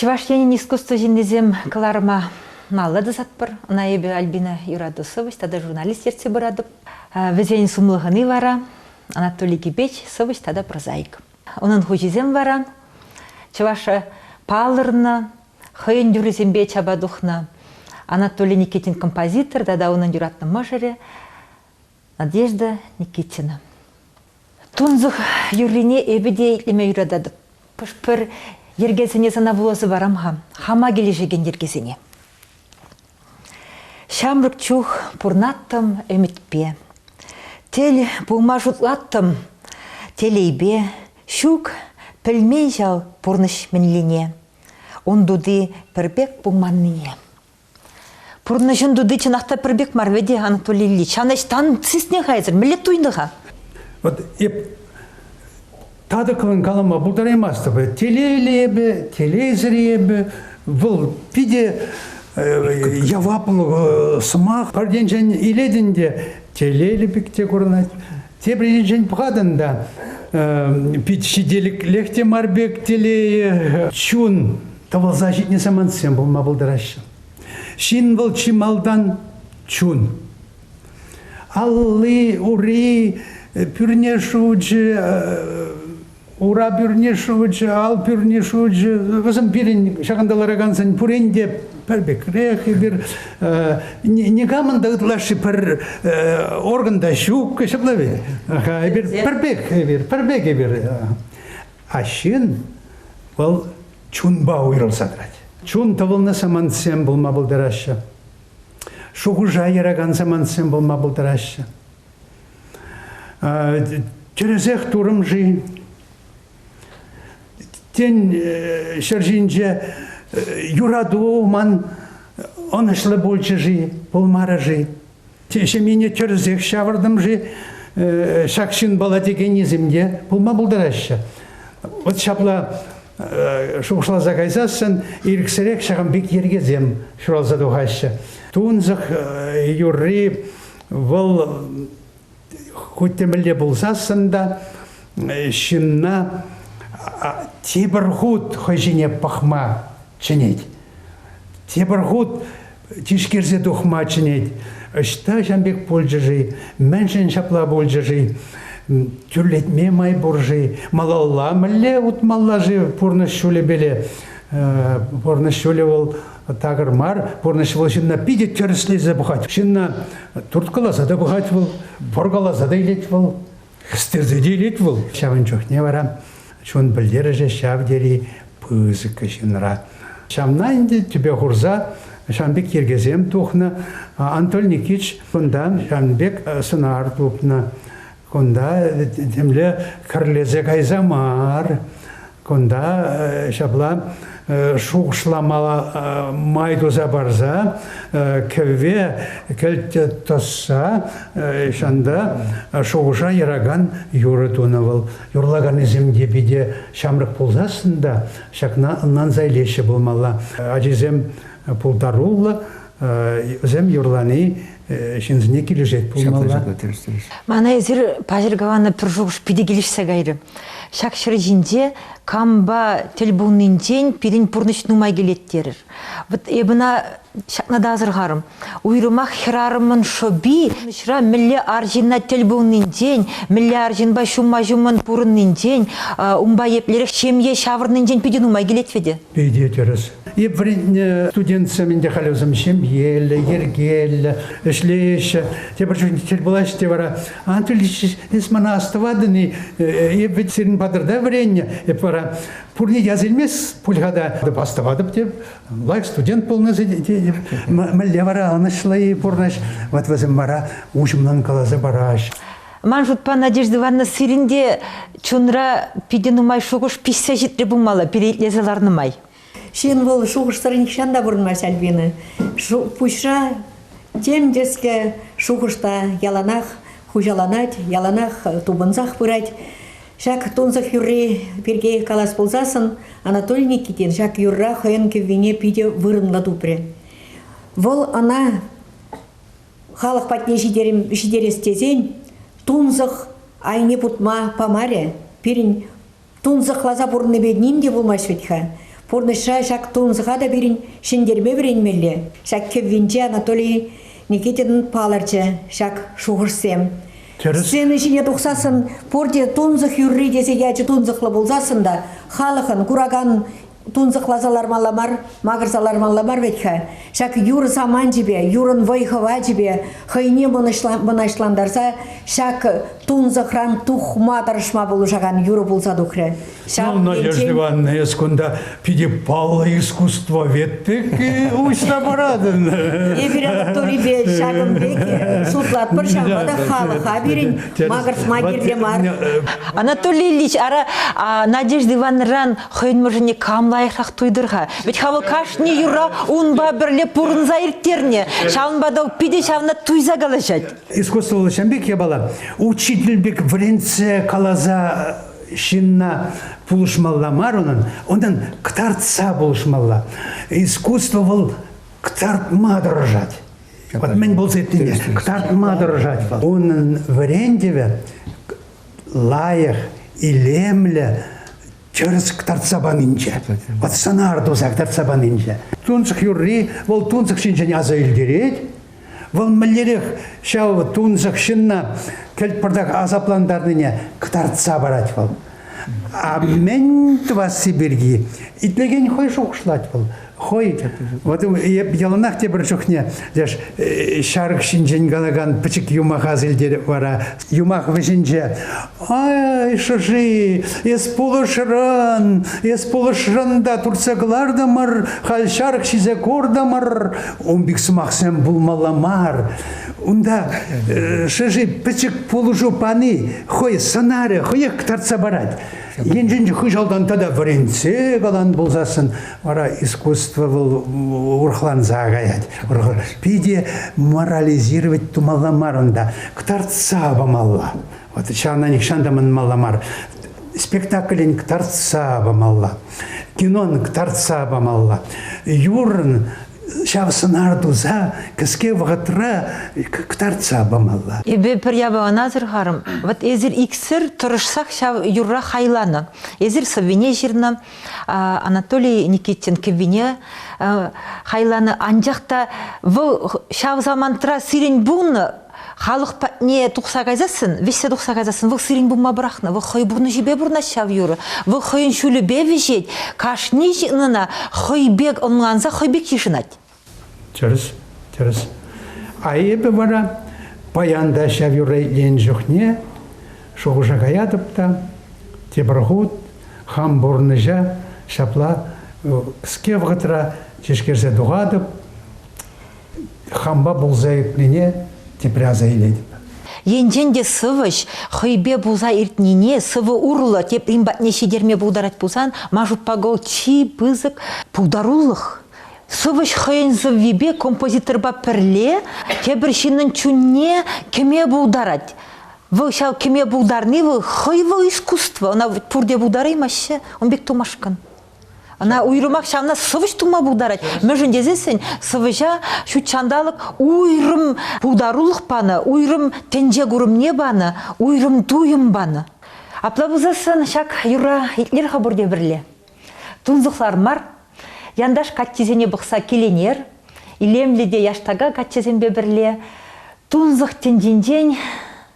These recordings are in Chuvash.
Чӑваш Енӗн искусство ҫыннисем кӑларӑма маллӑ тӑсатпӑр. Ӑна эпӗ Альбина юрату сӑвӑҫ тата журналист ертсе пыратӑп. Вӗсен сумлӑхӑни вара Анатолий Кипеч сӑвӑҫ тата прозаик. Унӑн хуҫисем вара чӑваша палӑрнӑ, хӑйӗн юррисемпе чапа тухнӑ Анатолий Никитин композитор тата унӑн юратнӑ мӑшӑрӗ Надежда Никитина. Тунсӑх юррине эпӗ те итлеме юрататӑп. Хӑш-пӗр йӗркесене сана вуласа парам-ха, хама килӗшекен йӗркесене. Ҫамрӑк чух пурнаттӑм ӗмӗтпе. Тел пулма шутлаттӑм телейпе. Ҫук, пӗлмен ҫав пурнӑҫ мӗнлине. Ун тути пӗр пек пулманнине. Пурнӑҫӑн туди чӑнах та пӗр пек мар вӗт Анатолий Ильич. Ан ӗҫ, тан сисне хайсӑр, мӗнле туйнӑ-ха? Вот эп татӑклӑн калама пултараймастӑп. Телейлӗ эпӗ, телейсӗр эпӗ. Вӑл питӗ э, яваплӑ э, сӑмах. Пӗртенчен илетӗн те телейлӗ пек те курӑнать. Тепӗр енчен пӑхатӑн та, пит ҫителӗклех те мар пек телейӗ, чун тӑвӑлса ҫитнӗ самантсем пулма пултараҫҫӗ. Ҫын вӑл чи малтан чун. Алли, ури, пӳрне шучӗ, Ура пӳрне шучӗ, ал пӳрне шучӗ, вӗсем пирӗн ҫакӑнта ларакансен пурин те пӗр пекрех, эпир э, никамӑн та ытлашши пӗр э, орган та ҫук, ҫапла ведь. Эпир пӗр пек, эпир, пӗр пек эпир. А ҫын вӑл чунпа уйрӑлса тӑрать. Чун тӑвӑлнӑ самантсем пулма пултараҫҫӗ. Шухӑша яракан самантсем пулма пултараҫҫӗ. Тӗрӗсех турӑм-ши? Тен, ҫӗр ҫинче юрату ман ӑнӑҫлӑ пулчӗ-ши, пулмарӗ-ши? Ҫемьене тӗрӗсех ҫавӑртӑм-ши? Ҫак ҫынпала текеннисем те пулма пултараҫҫӗ. Вот ҫапла шухӑшласа кайсассӑн ирӗксӗрех ҫакӑн пек йӗркесем ҫуралса тухаҫҫӗ. Тунсӑх юрри Вӑл хуть темелле пулсассӑн та ҫынна тепӗр хут хӑй ҫине пӑхма чӗнет. Тепӗр хут тишкерсе тухма чӗнет. Ӑҫта ҫам пек пулчӗ-ши? Мӗншӗн ҫапла пулчӗ-ши? Тӳрлетме май пур-ши? Малалла мӗнле утмалла-ши пурнӑҫ ҫулӗпеле? Пурнӑҫ ҫулӗ вӑл такӑр мар пурнӑҫ вӑл ҫынна питӗ тӗрӗслесе пӑхать ҫынна турткаласа та пӑхать вӑл пӑркаласа та илет вӑл хӗстерсе те илет вӑл ҫавӑн чухне вара чун пӗлтерӗшӗ ҫав тери пысӑк ҫынра ҫавна ӗнтӗ тӗпе хурса ҫавӑн пек йӗркесем тухнӑ Анатолий Никитич кунтан ҫавӑн пек сӑнар тупнӑ Кунта темле кӗрлесе кайса мар. Кунта ҫапла шухӑшламала май туса парса кӗвве кӗлт тӑсса ҫанта шухӑша яракан юрӑ тунӑ вӑл. Юрлаканӗсем те питӗ ҫамрӑк пулсассӑн та ҫакна ӑнланса илеҫҫӗ пулмалла. Ачисем пултаруллӑ Вӗсем юрлани ҫынсене килӗшет пулмалла. Мана эсир паҫӑр каланӑ пӗр шухӑш питӗ килӗшсе кайрӗ. Ҫак ҫӗр ҫинче кампа тӗл пулнинчен пирӗн пурнӑҫ нумай килет терӗр. Вот эпӗ ӑна ҫакна та асӑрхарӑм. Уйрӑмах хӗрарӑмӑн шӑпи пурнӑҫра мӗнле арҫынна тӗл пулнинчен, мӗнле арҫынпа ҫумма ҫуммӑн пурӑннинчен, унпа еплерех ҫемье ҫавӑрнинчен питӗ нумай килет вӗтӗ. Питӗ тӗрӗс. Эп вӗрентнӗ студентсем ӗнтӗ халӗ вӗсем ҫемьеллӗ, йӗркеллӗ, ӗҫлеҫҫӗ. Тепӗр чухне тӗл пулаҫ те вара, Анатолий Ильич, эс мана астӑватӑн-и? Эп ведь сирӗн патӑрта вӗреннӗ. Эп вара пурне час илмест пуль-ха та. Астӑватӑп те, лайӑх студент пулнӑ тетӗп. Мӗнле вара ӑнӑҫлӑ-и пурнӑҫ? Ват вӗсем вара уҫӑмлӑн каласа параҫ. Ман шутпа, Надежда Ивановна, сирӗн те чунра питӗ нумай шухӑш пиҫсе ҫитрӗ пулмалла пире итлесе ларнӑ май. Ҫын вӑл шухӑшсӑр нихҫан та пурӑнмасть, Альбина. Пуҫра тем тӗслӗ шухӑш та яланах хуҫаланать, яланах тупӑнсах пырать. Ҫак тунсӑх юрри пирки калас пулсассӑн Анатолий Никитин ҫак юрра хӑйӗн кӗввине питӗ вырӑнлӑ тупрӗ. Вӑл ӑна халӑх патне ҫитерес тесен тунсӑх айне путма памарӗ. Пирӗн тунсӑхласа пурӑннипе ним те пулмасть вӗт-ха. Пурнӑҫра ҫак тунсӑха та пирӗн ҫӗнтерме вӗренмелле. Ҫак кӗввинче Анатолий Никитинӑн палӑрчӗ ҫак шухӑшсем. Тӗрӗс. Сцена ҫине тухсассӑн пурте тунсӑх юрри тесе ячӗ тунсӑхлӑ пулсассӑн та халӑхӑн куракан Тунсӑхласа лармалла мар, макӑрса лармалла мар вӗт-ха. Ҫак юр саманчӗпе, юрӑн вӑй-хӑвачӗпе хӑйне мӑнаҫлантарса ҫак тунсӑхран тухма тӑрӑшма пулӑшакан юрӑ пулса тухрӗ. Ҫав ну, Надежда Ивановна, эс кунта питӗ паллӑ искусствовед-тӗк уҫса паратӑн. Эпир аудиторипе ҫакӑн пек шутлатпӑр, ҫавӑнпа та халӑха пирӗн макӑртма кирлӗ мар. Анатолий Ильич, ара, Надежда Ивановнӑран хӑйӗн мӑшӑрне кам лайӑхрах туйтӑр-ха? Вӗт ха вӑл кашни юра унпа пӗрле пурӑнса ирттернӗ. Ҫавӑнпа та питӗ ҫавна туйса калаҫать. Искусствӑллӑ ҫын пек япала учитель пек вӗрентсе каласа ҫынна пулӑшмалла мар унӑн, унтан кӑтартса пулӑшмалла. Искусство вӑл кӑтартма тӑрӑшать. Вот мӗн пулса иртнине кӑтартма тӑрӑшать. Унӑн вӗрентӗвӗ лайӑх, илемлӗ тӗрӗс кӑтартса панинче, пацанар туса кӑтартса панинче. Тунсӑх юрри вӑл тунсӑх ҫинчен аса илтерет. Вӑл мӗнлерех ҫав тунсӑх ҫынна кӗлтпӑртак асаплантарнине кӑтартса парать вӑл. А мӗн тӑвасси пирки итлекен хӑй шухӑшлать вӑл. хӑй вот эп яланах тепӗр чухне леш ҫарӑк ҫинчен калакан пӗчӗк юмах асилтереп вара юмах вӗҫӗнче ай шӑши эс пулӑшрӑн эс пулӑшрӑн та туртса кӑлартӑмӑр халь ҫарӑк ҫисе куртӑмӑр ун пек сӑмахсем пулмалла мар унта шӑши пӗчӗк пулӑшу пани хӑй сӑнарӗ хӑех тартса парать Енчен хыҫалтан тата вӗрентсе калан пулсассӑн, вара искусство вӑл урӑхланса каять. Питӗ морализировать тумалла мар унта, кӑтартса памалла. Вот ҫавна нихҫан та манмалла мар. Спектаклӗн кӑтартса памалла. Кинон кӑтартса памалла. Юрӑн ҫав сӑнар туса кӗске вӑхӑтра кӑтартса памалла. Эпӗ пӗр япалана асӑрхарӑм. Вот эсир иксӗр тӑрӑшсах ҫав юрра хайланӑ. Эсир сӑввине ҫырнӑ. Анатолий Никитин кӗввине хайланӑ. Анчах та вӑл ҫав самантра сирӗн пулнӑ халӑх патне тухса кайсассӑн, вӗҫсе тухса кайсассӑн, вӑл сирӗн пулма пӑрахнӑ, вӑл хӑй пурнӑҫӗпе пурӑнать ҫав юрӑ, вӑл хӑйӗн ҫулӗпе вӗҫет, кашни ҫын ӑна хӑй пек ӑнланса, хӑй пек йышӑнать. Тӗрӗс, тӗрӗс. А эпӗ вара паян та ҫав юрра итленӗ чухне шухӑша каятӑп та, тепӗр хут хам пурнӑҫа ҫапла ӗ-ӗ-ӗ ӗ-ӗ ӗ-ӗ ӗ-ӗ ӗ-ӗ ӗ-ӗ ӗ-ӗ ӗ-ӗ ӗ-ӗ ӗ-ӗ ӗ-ӗ ӗ-ӗ ӗ-ӗ Хампа пулса иртнине тепре аса илетӗп. Енчен те сӑвӑҫ хӑйпе пулса иртнине сӑвӑ урлӑ теприн патне ҫитерме пултарать пулсан, Машукпа Гол чи пысӑк пултарулӑх. Сӑвӑҫ хӑйӗн сӑввипе композиторпа пӗрле тепӗр ҫыннӑн чунне кӗме пултарать. Вӑл ҫав кӗме пултарни вӑл хӑй вӑл искусство. Ӑна пурте пултараймаҫҫӗ. Ун пек тумашкӑн. Ӑна уйрӑмах ҫавна сӑвӑҫ тума пултарать. Мӗншӗн тесессӗн сӑвӑҫа ҫут ҫанталӑк уйрӑм пултарулӑх панӑ, уйрӑм тӗнче курӑмне панӑ, уйрӑм туйӑм панӑ. Апла пулсассӑн ҫак юрра итлер-ха пурте пӗрле. Тунсӑхлар мар, янташ каччисене пӑхса киленер, илемлӗ те яштака каччӑсемпе пӗрле тунсӑх тӗнчинчен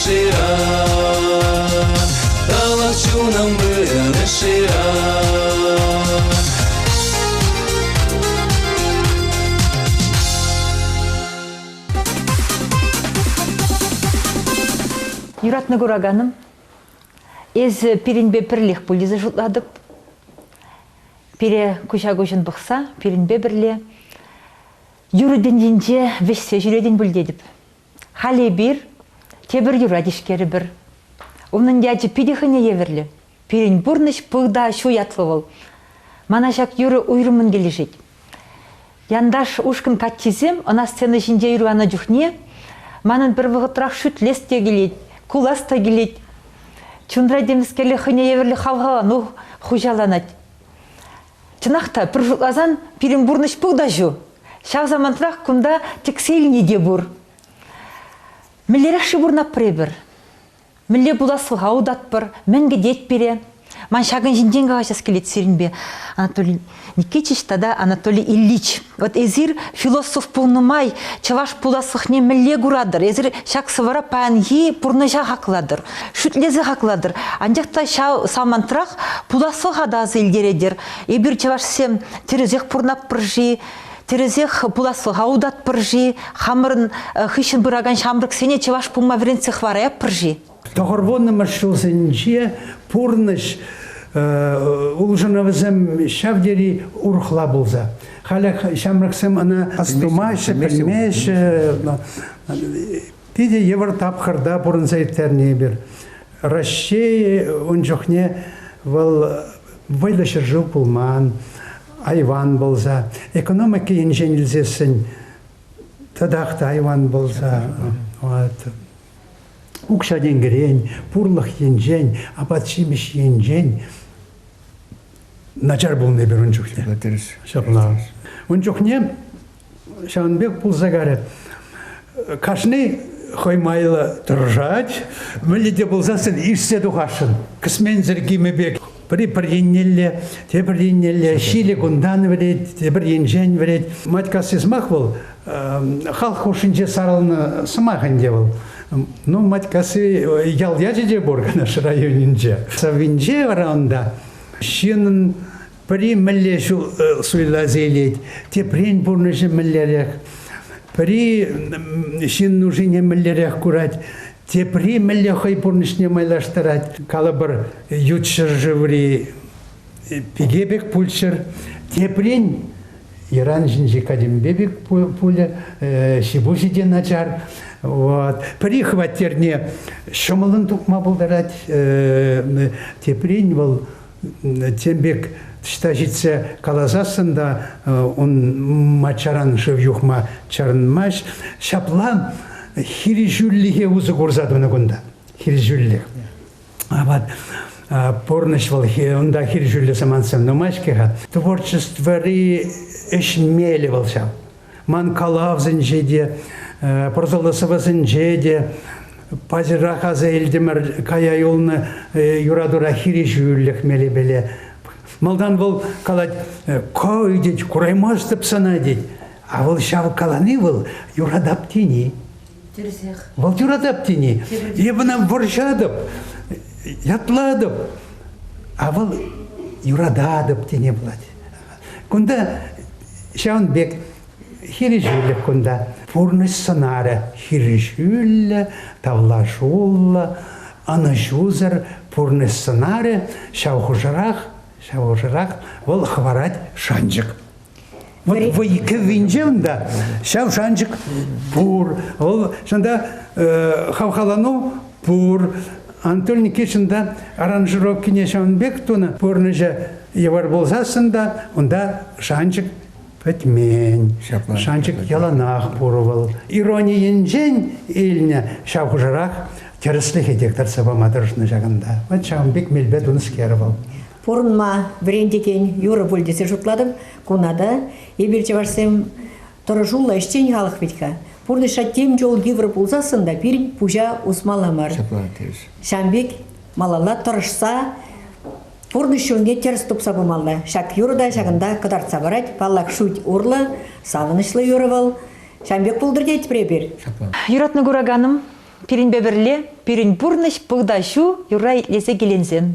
шира Тӑлӑх чунӑм вырӑнӗ шира Юратнӑ кураканӑм, эсӗ пирӗнпе пӗрлех пуль тесе шутлатӑп. Пире куҫа-куҫӑн пӑхса пирӗнпе пӗрле юрӑ тӗнчинче вӗҫсе ҫӳретӗн пуль тетӗп. Халь эпир тепӗр юра тишкерӗпӗр. Унӑн ячӗ питӗ хӑйне евӗрлӗ. Пирӗн пурнӑҫ пыл та ҫу ятлӑ вӑл. Мана ҫак юрӑ уйрӑммӑн килӗшет. Янташ ушкӑн каччисем ӑна сцена ҫинче юрланӑ чухне манӑн пӗр вӑхӑтрах шӳтлес те килет, кулас та килет. Чунра темскерле хӑйне евӗрлӗ хавхалану хуҫаланать. Чӑнах та, пӗр шутласан, пирӗн пурнӑҫ пыл та ҫу. Ҫав самантрах кунта тӗксе илни те пур. Мӗнлерех-ши пурӑнатпӑр эпир? Мӗнле пуласлӑха утатпӑр? Мӗн кӗтет пире? Ман ҫакӑн ҫинчен калаҫас килет сирӗнпе, Анатолий Никитич тата Анатолий Ильич. Вот эсир философ пулнӑ май чӑваш пуласлӑхне мӗнле куратӑр? Эсир ҫак сӑвӑра паянхи пурнӑҫа хаклатӑр, шӳтлесе хаклатӑр. Анчах та ҫав самантрах пуласлӑха та аса илтеретӗр. Эпир чӑвашсем тӗрӗсех пурӑнатпӑр-ши? тӗрӗсех пуласлӑха утатпӑр-ши? Хамӑрӑн хыҫҫӑн пыракан ҫамрӑксене чӑваш пулма вӗрентсе хӑвараятпӑр-ши? Тӑхӑрвуннӑмӗш ҫулсенче пурнӑҫ улшӑнӑвӗсем ҫав тери урӑхла пулса. Халех ҫамрӑксем ӑна астумаҫҫӗ, пӗлмеҫҫӗ. Питӗ йывӑр тапхӑрта пурӑнса ирттернӗ эпир. Раҫҫей ун чухне вӑл вӑйлӑ ҫӗршыв пулман, айван пулса, экономика енчен илсессӗн татах та айван пулса. Вот. укҫа-тенкӗрен, пурлӑх енчен, апат-ҫимӗҫ енчен начар пулнӑ эпир ун чухне. Ҫапла тӗрӗс. Ҫапла. Ун чухне ҫавӑн пек пулса карӗ. Кашни хӑй майлӑ тӑрӑшать, вӗлле те пулсассӑн ишсе тухасшӑн. Кӗсменсӗр кимӗ пек Пӗри пӗр еннелле, тепӗр еннелле ҫилӗ кунтан вӗрет, тепӗр енчен вӗрет. Матькасси сӑмах вӑл халӑх хушшинче сарӑлнӑ сӑмах ӗнтӗ вӑл. Ну, Матькасси ял ячӗ те пур Канаш районӗнче. Савинче вара унта ҫынӑн пӗри мӗнле ҫул суйласа илет, теприн пурнӑҫӗ мӗнлерех, пӗри ҫын нушине мӗнлерех курать, Тепри мӗнле хӑй пурнӑҫне майлаштарать. Калӑпӑр, ют ҫӗршыври пике пек пулччӑр. Теприн йӑран ҫинчи катемпе пек пулӗ, ҫипуҫӗ те начар. Вот. Пӗри хваттерне ҫӑмӑллӑн тухма пултарать, теприн вӑл тем пек ӑҫта ҫитсе каласассӑн та ун маччаран шыв юхма чарӑнмасть. Ҫапла хирӗҫӳллӗхе усӑ курса тунӑ кунта. Хирӗҫӳллӗх. Апат пурнӑҫлӑхӗ унта хирӗҫӳллӗ самантсем нумай-ҫке-ха. Творчествӑри ӗҫ мелӗ вӑл ҫав. Ман калавсенче те, пӑрсӑллӑ сӑвӑсенче те паҫӑрах аса илтӗмӗр кая юлнӑ юратура хирӗҫӳлӗх мелӗпеле. Малтан вӑл калать, «Ко тет, кураймастӑп сана тет. А вӑл ҫав калани вӑл юратап тени. Тӗрсех. Вӑл юратап тени. Эп ӑна вӑрҫатӑп, ятлатӑп. А вӑл юрататӑп тене пулать. Кунта ҫавӑн пек хирӗҫӳлӗх кунта. Пурнӑҫ сӑнарӗ хирӗҫӳллӗ, тавлашуллӑ, ӑнӑҫусӑр пурнӑҫ сӑнарӗ ҫав хушӑрах, ҫав хушӑрах вӑл хӑварать шанчӑк. Вӑй, вӑй кӗввинче унта ҫав шанчӑк пур. Вӑл чӑнта хавхалану Пур. Анатолий Никитичӑн та аранжировкине ҫавӑн пек тунӑ. Пурнӑҫӗ йывӑр пулсассӑн та унта шанчӑк пӗтмен. Ҫапла. Шанчӑк яланах пур вӑл. Ирони енчен илнӗ ҫав хушӑрах тӗрӗслӗхе те тӑрса пама тӑрӑшнӑ ҫакӑнта. Вӑт ҫавӑн пек мелпе тунӑскер вӑл. Пурӑнма вӗрентекен юрӑ пуль тесе шутлатӑп. Куна та эпир чӑвашсем Тӑрӑшуллӑ ӗҫчен халӑх вӗт-ха. Пурнӑҫра тем чул йывӑр пулсассӑн та пирӗн пуҫа усмалла мар. Ҫапла тивӗҫ. Ҫавӑн пек малалла тӑрӑшса пурнӑҫ ҫулне тӗрӗс тупса пымалла. Ҫак юрӑ та ҫакӑнта кӑтартса парать. Паллах, шут урлӑ, савӑнӑҫлӑ юрӑ вӑл. Ҫавӑн пек пултӑр тетпӗр эпир. Ҫапла. Юратнӑ кураканӑм, пирӗнпе пӗрле пирӗн пурнӑҫ пӑлтаҫу юрра итлесе киленсен,